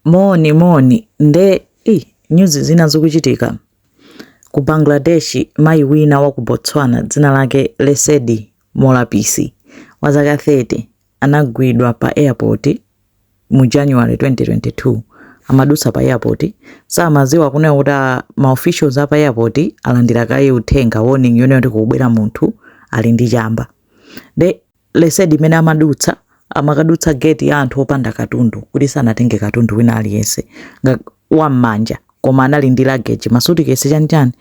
Moni moni nde i nyuzi zimene zikuchitika ku Bangladesh. Mayi wina wa ku Botswana dzina lake Lesedi Molapisi wa zaka 30 anagwidwa pa airport mu January 2022. Amadutsa pa airport samaziwa kunena kuti ma officials apa airport alandira kaye uthenga warning yonena kuti kukubwera munthu ali ndi chamba nde lesedi mmene amadutsa amakadutsa gate ya anthu opanda katundu kuti sanatenge katundu wina aliyense nga- wa m'manja koma anali ndi luggage masutikesi chanichani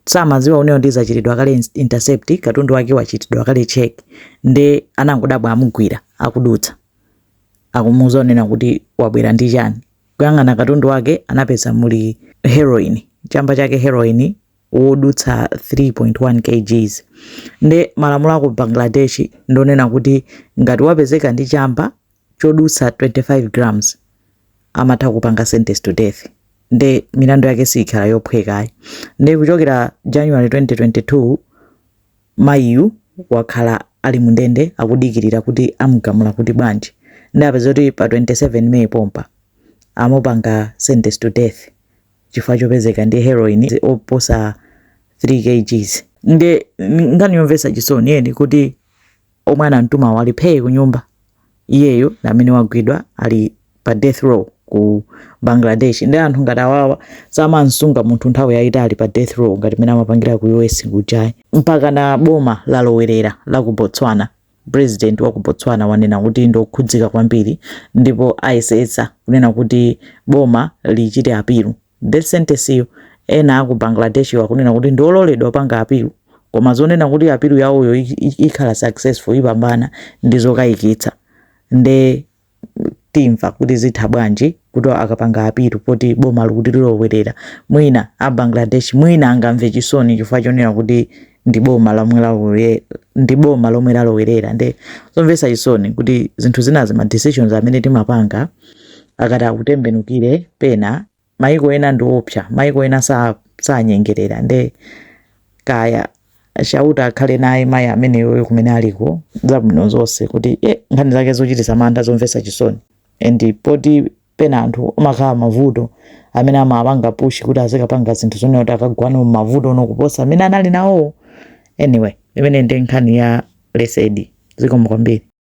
samaziwa kuti iyeyo wachitidwa kale ins- intercept katundu wake wachitidwa kale check nde anangodabwa amugwira akudutsa akumuuza zonena kuti wabwera ndi chani kuyang'ana katundu wake anapeza muli heroin chamba chake heroin yodutsa 3.1 kgs nde malamulo aku bangladesh ndonena kuti ngati wapezeka ndi chamba chodutsa 25 grams amatha kupanga sentence to death nde milandu yake siyikhala yophwekayi nde kuchokera january 2022 mayiyu wakhala ali mundende akudikirira kuti amugamula kuti bwanji nde apeza kuti pa 27 may pompa amupanga sentence to death chifukwa chopezeka ndi heroin oposa 3 kgs nde nkhani yomvetsa chisoni yeni kuti omwe anamtumawo ali phee ku nyumba iyeyo ndi amene wagwidwa ali pa death row ku Bangladesh nde anthu ngati awawa samansunga munthu nthawi yayitali pa death row ngati mene amapangira ku US kujayi mpakana boma lalowerera la ku Botswana Pulezidenti wa ku Botswana wanena kuti ndi okhudzika kwambiri ndipo ayesetsa kunena kuti boma lichite apilu death sentenceyo. Ena a ku Bangladeshwo akunena kuti ndi ololedwa kupanga apilu koma zonena kuti apilu yawoyo ikhala successful, ipambana, ndi zokayikitsa. Ndiye timva kuti zitha bwanji kuti akapanga apilu poti boma likuti lilowerera mwina a bangladesh mwina angamve chisoni chifukwa chonena kuti ndi boma lomwe lalowe- ndi boma lomwe lalowerera nde zomvetsa chisoni kuti zinthu zinazi ma decisions amene timapanga akati akutembenukire pena maiko ena ndiopsa maiko ena sanyengerera nde kaya chauta akhale naye mayi ameneyoyo kumene aliko zabwino zonse kuti e nkhani zake zochitisa mantha zomvesa chisoni and poti pena anthu amakhala mavuto amene amapanga pushi kuti azikapanga zinthu zonena kuti akagwano mmavuto kuposa amene anali nawo anyway imeneyi ndi nkhani ya lesedi zikomo kwambiri